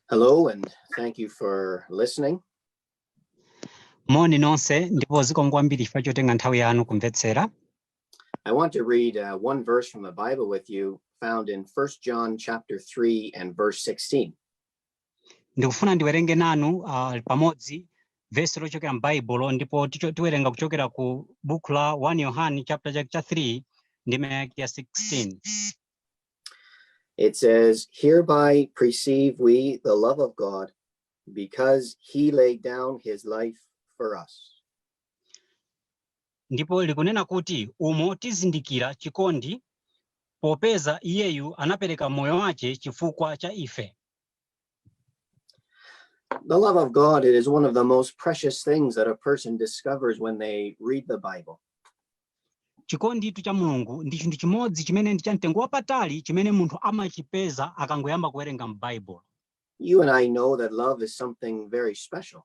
Hello and thank you for listening. Moni nonse ndipo zikomo kwambiri chifukwa chotenga nthawi yanu kumvetsera. I want to read uh, one verse from the Bible with you found in 1 John chapter 3 and verse 16. Ndikufuna ndiwerenge nanu uh, pamodzi vesi lochokera m'Baibulo ndipo ticho- tiwerenga kuchokera ku buku la 1 Yohane chapter cha cha 3 ndime yake ya 16. It says, Hereby perceive we the love of God because he laid down his life for us. Ndipo likunena kuti umo tizindikira chikondi popeza iyeyu anapereka moyo wache chifukwa cha ife. The love of God it is one of the most precious things that a person discovers when they read the Bible. chikonditu cha mulungu ndi chinthu chimodzi chimene ndi cha mtengo wapatali chimene munthu amachipeza akangoyamba kuwerenga m'baibulo You and I know that love is something very special.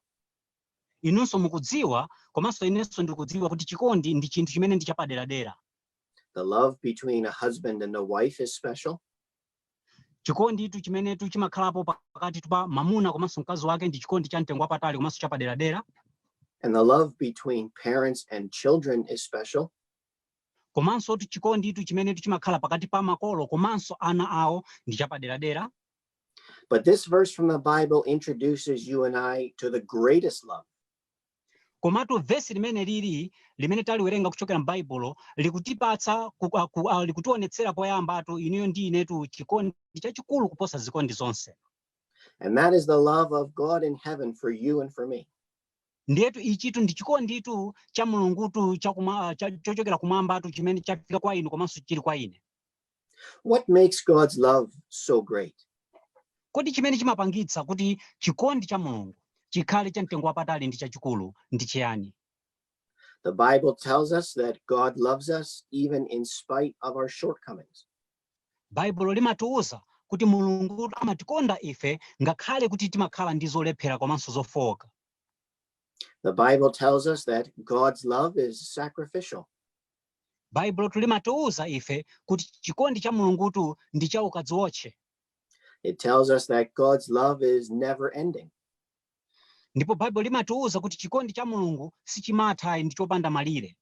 inunso mukudziwa komanso inenso ndikudziwa kuti chikondi ndi chinthu chimene ndi chapaderadera The love between a husband and a wife is special. chikonditu chimenetu chimakhalapo pakatitu pa mamuna komanso mkazi wake ndi chikondi cha mtengo wapatali komanso chapaderadera and the love between parents and children is special komansotu chikonditu chimenetu chimakhala pakati pa makolo komanso ana awo ndi chapaderadera but this verse from the bible introduces you and i to the greatest love Komatu vesi limene lili limene taliwerenga kuchokera m'Baibulo likutipatsa ku- a- ku- a- likutionetsera poyambatu inuyo ndi inetu chikondi chachikulu kuposa zikondi zonse. And that is the love of God in heaven for you and for me. Ndiyetu ichitu ndi chikonditu cha Mulungutu cha kuma- cha- chochokera kumwambatu chimene chafika kwa inu komanso chili kwa ine. What makes God's love so great? Kodi chimene chimapangitsa kuti chikondi cha Mulungu chikhale cha mtengo wapatali ndi chachikulu ndi chiyani? The Bible tells us that God loves us even in spite of our shortcomings. Baibulo limatiuza kuti Mulungu amatikonda ife ngakhale kuti timakhala ndi zolephera komanso zofooka. The Bible tells us that God's love is sacrificial. Baibulotu limatiuza ife kuti chikondi cha Mulungutu ndi cha ukadziwotche. It tells us that God's love is never ending. Ndipo Baibulo limatiuza kuti chikondi cha Mulungu sichimatha ndi chopanda malire.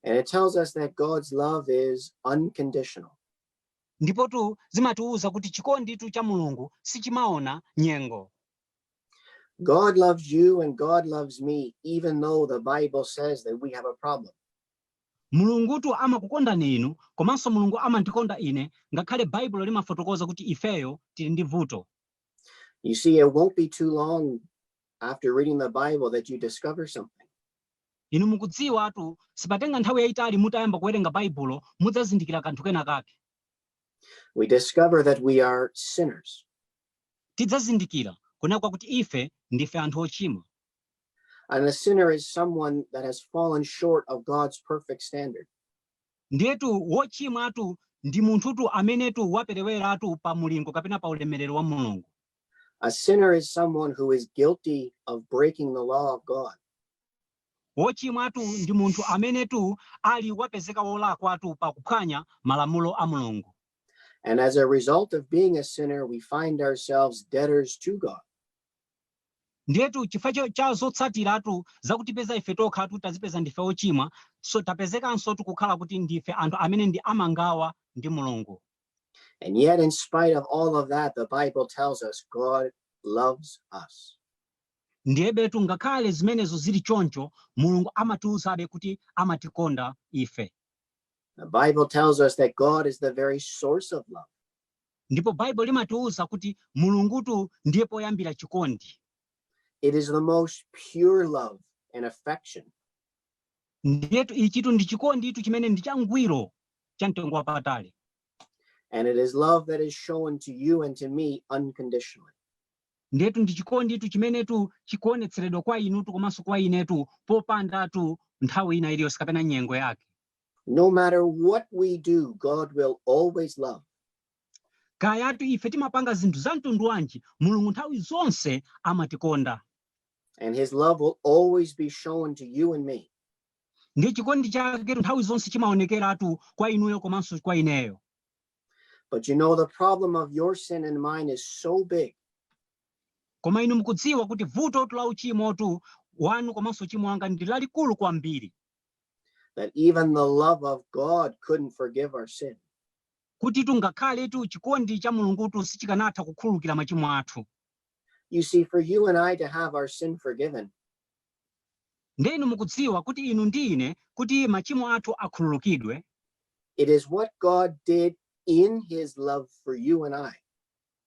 And it tells us that God's love is unconditional. Ndipotu zimatiuza kuti chikonditu cha Mulungu sichimaona nyengo. God loves you and God loves me, even though the Bible says that we have a problem. mulungutu amakukondani inu komanso mulungu amandikonda ine ngakhale baibulo limafotokoza kuti ifeyo tili ndi vuto You see, it won't be too long after reading the Bible that you discover something. inu mukudziwatu sipatenga nthawi yayitali mutayamba kuwerenga baibulo mudzazindikira kanthu kena kake We discover that we are sinners. tidzazindikira kunena kuti ife ndife anthu ochimwa. And a sinner is someone that has fallen short of God's perfect standard. Ndiyetu wochimwatu ndi munthutu amenetu wapereweratu pa mulingo kapena pa ulemerero wa Mulungu. A sinner is someone who is guilty of breaking the law of God. Wochimwatu ndi munthu amenetu ali wapezeka wolakwatu pa kuphwanya malamulo a Mulungu. And as a result of being a sinner, we find ourselves debtors to God. ndiyetu chifukwa cha zotsatiratu zakutipeza ife tokhatu tazipeza ndife ochimwaso tapezekansotu kukhala kuti ndife anthu amene ndi amangawa ndi mulungu And yet, in spite of all of that, the Bible tells us God loves us. ndiyebetu ngakhale zimenezo zili choncho mulungu amatiuzabe kuti amatikonda ife The Bible tells us that God is the very source of love. ndipo baibulo limatiwuza kuti mulungutu ndiye poyambira chikondi It is the most pure love and affection. ndiyetu ichitu ndi chikonditu chimene ndi changwiro cha mtengo wapatali And it is love that is shown to you and to me unconditionally. ndiyetu ndi chikonditu chimenetu chikuonetseredwa kwa inutu komanso kwa inetu popandatu nthawi ina iliyonse kapena nyengo yake No matter what we do, God will always love. Kayatu ife timapanga zinthu za mtundu wanji, Mulungu nthawi zonse amatikonda. And his love will always be shown to you and me. Ndi chikondi chaketu nthawi zonse chimaonekeratu kwa inuyo komanso kwa ineyo. But you know the problem of your sin and mine is so big. Koma inu mukudziwa kuti vutotu la uchimotu wanu komanso uchimo wanga ndi lalikulu kwambiri. That even the love of God couldn't forgive our sin. kutitu ngakhaletu chikondi cha mulungutu sichikanatha kukhululukira machimo athu You see, for you and I to have our sin forgiven, nde inu mukudziwa kuti inu ndi ine kuti machimo athu akhululukidwe it is what God did in his love for you and I.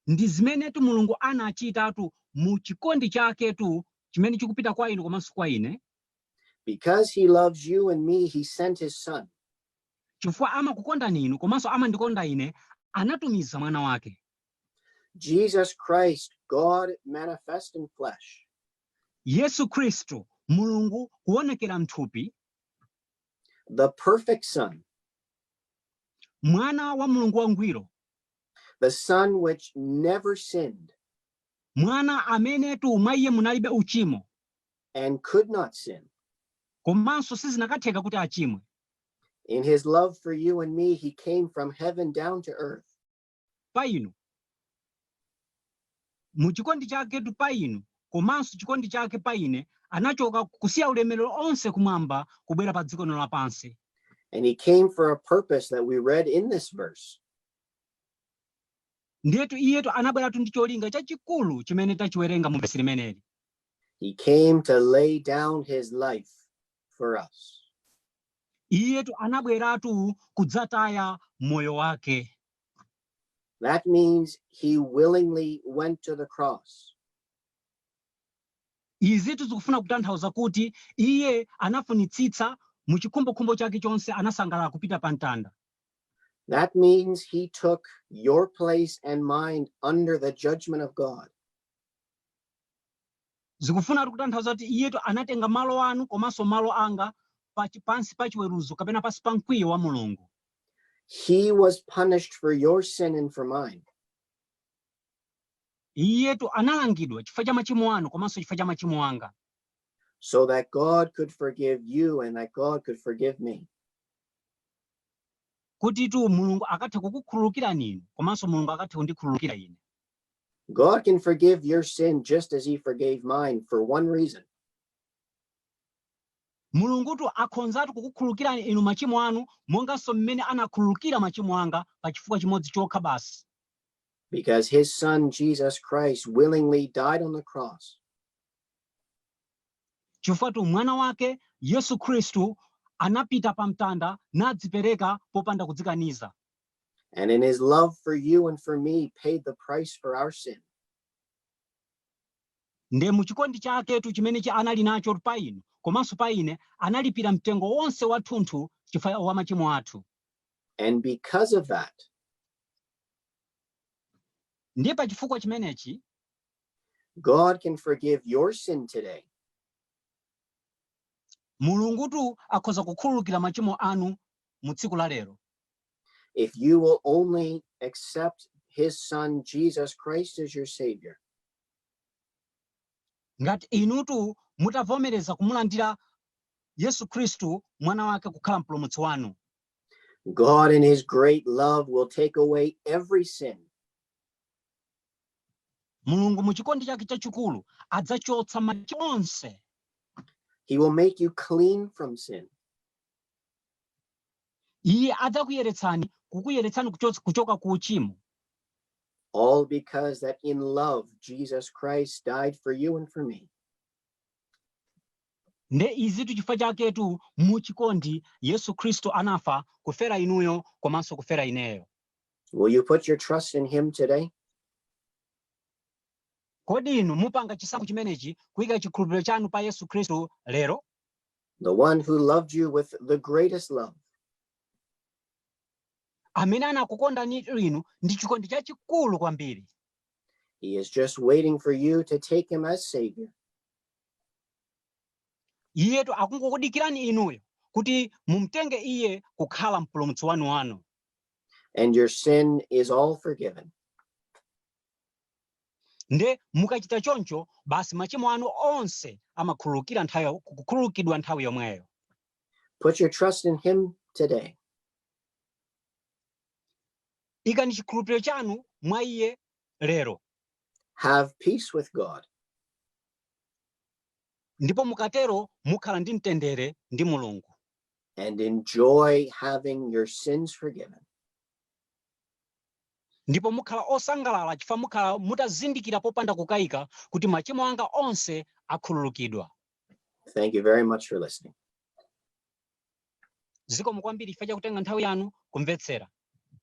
ndi zimenetu mulungu anachitatu mu chikondi chaketu chimene chikupita kwa inu komanso kwa ine Because he loves you and me, he sent his son. Chifukwa amakukondani inu komanso amandikonda ine, anatumiza mwana wake. Jesus Christ, God manifest in flesh. Yesu Khristu, Mulungu kuonekera mthupi. The perfect son. Mwana wa Mulungu wangwiro. The son which never sinned. Mwana amenetu mwa iye munalibe uchimo. and could not sin. Komanso sizinakatheka kuti achimwe. In his love for you and me, he came from heaven down to earth. Pa inu. Mu chikondi chaketu pa inu, komanso chikondi chake pa ine, anachoka kusiya ulemerero onse kumwamba kubwera pa dziko lapansi. And he came for a purpose that we read in this verse. Ndiyetu iyetu anabweratu ndi cholinga chachikulu chimene tachiwerenga mu vesi limeneli. He came to lay down his life for us. Iyetu anabweratu kudzataya moyo wake. That means he willingly went to the cross. Izitu zikufuna kutanthauza kuti iye anafunitsitsa mu chikhumbokhumbo chake chonse anasangalala kupita pa mtanda. That means he took your place and mine under the judgment of God. Zikufunatu kutanthauza kuti iyetu anatenga malo anu komanso malo anga pa chi, pansi pa chiweruzo kapena pansi pa mkwiyo wa Mulungu. He was punished for your sin and for mine. Iyetu analangidwa chifukwa cha machimo anu komanso chifukwa cha machimo anga. So that God could forgive you and that God could forgive me. Kutitu Mulungu akathe kukukhululukirani inu komanso Mulungu akathe kundikhululukira ine. God can forgive your sin just as he forgave mine for one reason. mulungutu akhonzatu kukukhululukirani inu machimo anu monganso mmene anakhululukira machimo anga pa chifukwa chimodzi chokha basi Because his son Jesus Christ willingly died on the cross chifukwatu mwana wake yesu khristu anapita pa mtanda nadzipereka popanda kudzikaniza and in his love for you and for me paid the price for our sin. nde mu chikondi chaketu chimenechi anali nacho pa inu komanso pa ine analipira mtengo wonse wathunthu chifukwa wa machimo athu And because of that, ndiye pa chifukwa chimenechi God can forgive your sin today mulungutu akhoza kukhululukira machimo anu mu tsiku la lero If you will only accept his son Jesus Christ as your savior. Ngati inutu mutavomereza kumulandira Yesu Khristu mwana wake kukhala mpulumutsi wanu. God in his great love will take away every sin. Mulungu mu chikondi chake chachikulu adzachotsa machimo onse. He will make you clean from sin. Iye adzakuyeretsani, kukuyeretsani kuchotsa, kuchoka ku uchimo. All because that in love Jesus Christ died for you and for me. Nde izitu chifukwa chaketu mu chikondi Yesu Khristu anafa kufera inuyo komanso kufera ineyo. Will you put your trust in him today? Kodi inu mupanga chisankho chimenechi kuyika chikhulupiriro chanu pa Yesu Khristu lero? The one who loved you with the greatest love. Amene anakukondanitu inu ndi chikondi chachikulu kwambiri. He is just waiting for you to take him as savior. Iyetu akungokudikirani inuyo kuti mumtenge iye kukhala mpulumutsi wanu wanu. And your sin is all forgiven. Nde mukachita choncho, basi machimo anu onse amakhululukira nthawi kukhululukidwa nthawi yomweyo. Put your trust in him today. Ikani chikhulupiriro chanu mwa iye lero. Have peace with God. Ndipo mukatero mukhala ndi mtendere ndi Mulungu. And enjoy having your sins forgiven. ndipo mukhala osangalala chifukwa mukhala mutazindikira popanda kukayika kuti machimo anga onse akhululukidwa. Thank you very much for listening. Zikomo kwambiri chifukwa cha kutenga nthawi yanu kumvetsera.